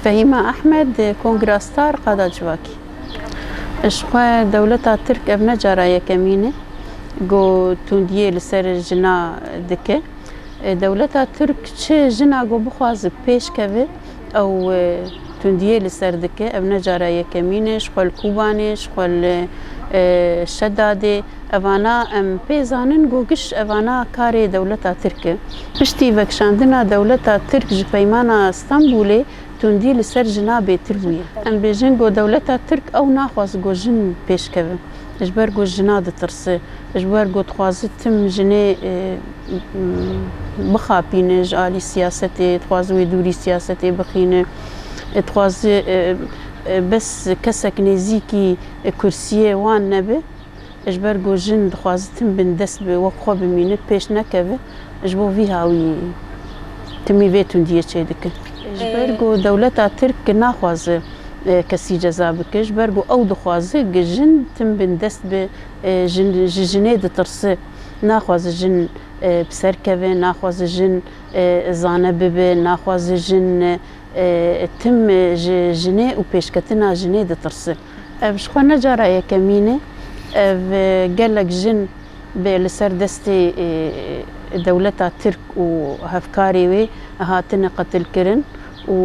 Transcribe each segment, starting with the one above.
Fehîma Ehmed, Kongrastar Qada Civakî, Ji xwe dewleta Tirk ev ne cara yekemîn e ku tundiyê li ser jina dike. Dewleta Tirk çi jina ku bixwaze pêş keve ew tundiyê li ser dike. Ev ne cara yekemîn e ji xwe li Kûbanê, ji xwe li Şedadê, Evana em pê zanin ku giş evana karê dewleta Tirk e. Piştî vekişandina dewleta Tirk ji Peymana Stenbûlê tundî li ser jina bêtir bûye. Em bêjin ku dewleta Tirk ew naxwaz ku jin pêşkeve ji ber ku jina ditirse, ji ber ku dixwaze tim jinê bixapîne ji alî siyasetê, dixwaze wê dûrî siyasetê bixîne, dixwaze bes kesek nêzîkî kursiyê wan nebe. Ji ber ku jin dixwazitin bin dest bi wek xwe bimînin, pêş nekevin, ji bo vî hawî timî vê tundiyê çêdikin. Ji ber ku dewleta Tirk naxwaze kesî ceza bike, ji ber ku ew dixwaze ku jin tim bin dest bi jin, ji jinê ditirse, naxwaze jin bi ser keve, naxwaze jin zane bibe, naxwaze jin tim ji jinê û pêşketina jinê ditirse. Ev ji xwe ne cara yekemîn e ev gelek jin bê li ser destê dewleta Tirk û hevkarê wê hatine qetilkirin û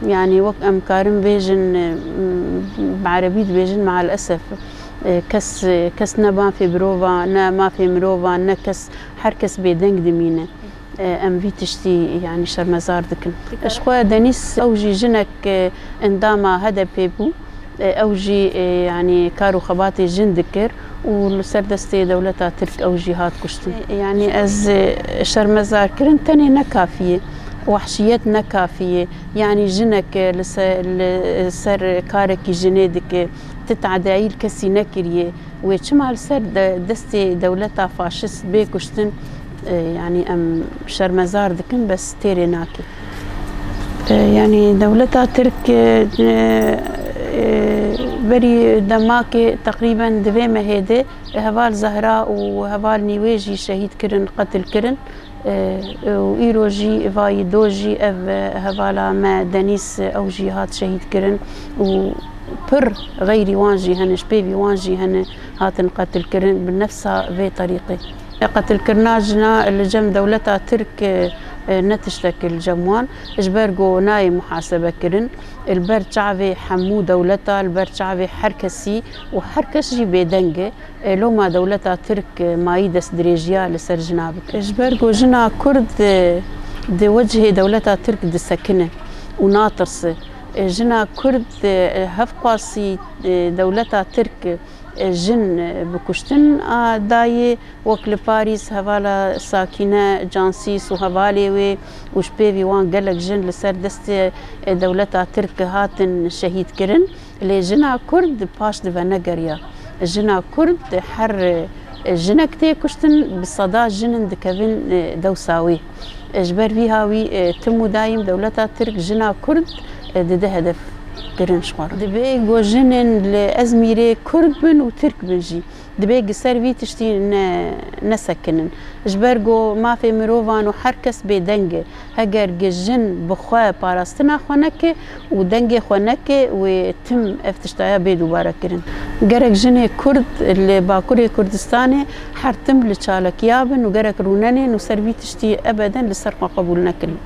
yanî wek em karin bêjin bi erebî dibêjin maal esef kes kes ne mafê mirova ne mafê mirovan ne kes her kes bêdeng dimîne. Em vî tiştî yanî şermezar dikin. Ji xwe Denîz ew jî jinek endama HDP'ê bû. Ew jî yanî kar û xebatê jin dikir û li ser destê dewleta Tirk ew jî hat kuştin. Yanî ez şermezarkirin tenê ne kafî ye. Wehşiyet ne kafî ye. Yanî jinek li li ser karekî jinê dike. Ti tadeyayî li kesî nekiriye. Wê çima li ser destê dewleta faşist bê kuştin? Yanî em şermezar dikin bes têrê nake. Yanî dewleta Tirk berî demakê teqrîben di vê mehê de heval Zehra û heval Nîwê jî şehîd kirin, qetil kirin û îro jî vayî do jî ev hevala me Denîs ew jî hat şehîd kirin û pir xeyrî wan jî hene ji pêvî wan jî hene hatin qetil kirin bi nefsa vê terîqê. Qetilkirina jina li cem dewleta Tirk ne tiştekî li cem wan ji ber ku nayê muhasebekirin. Li ber çavê hemû dewleta, li ber çavê her kesî û her kes jî bêdeng e. Loma dewleta Tirk mayî destdirêjiya li ser jina bike. Ji ber ku jina Kurd di wecihê dewleta Tirk disekine û natirse. Jina Kurd hevqasî dewleta Tirk. Jin bi kuştin a dayê wek li Parîs hevala Sakîne Cansîs û hevalê wê û ji pêvî wan gelek jin li ser destê dewleta Tirk hatin şehîdkirin. Lê jina Kurd paş di venegeriya. Jina Kurd her jinek tê kuştin bi seda jin in dikevin dewsa wê. Ji ber vî ha wî tim û dayîm dewleta Tirk jina Kurd dide hedef kirin şixwarin. Dibe ku jinên li Ezmîrê Kurd bin û Tirk bin jî dibe gi ser vî tiştî ne nesekinin. Ji ber ku mafê mirovan û her kes bêdeng e. Heger gi jin bi xwe parastina xwe neke, Û dengê xwe neke wê tim ev tiştaya bê dubare kirin. Gerek jinê kurd li bakurê Kurdistanê her tim li çalakiya bin û gerek rûnenên û ser vî tiştî ebeden li ser xwe qebûl nekin.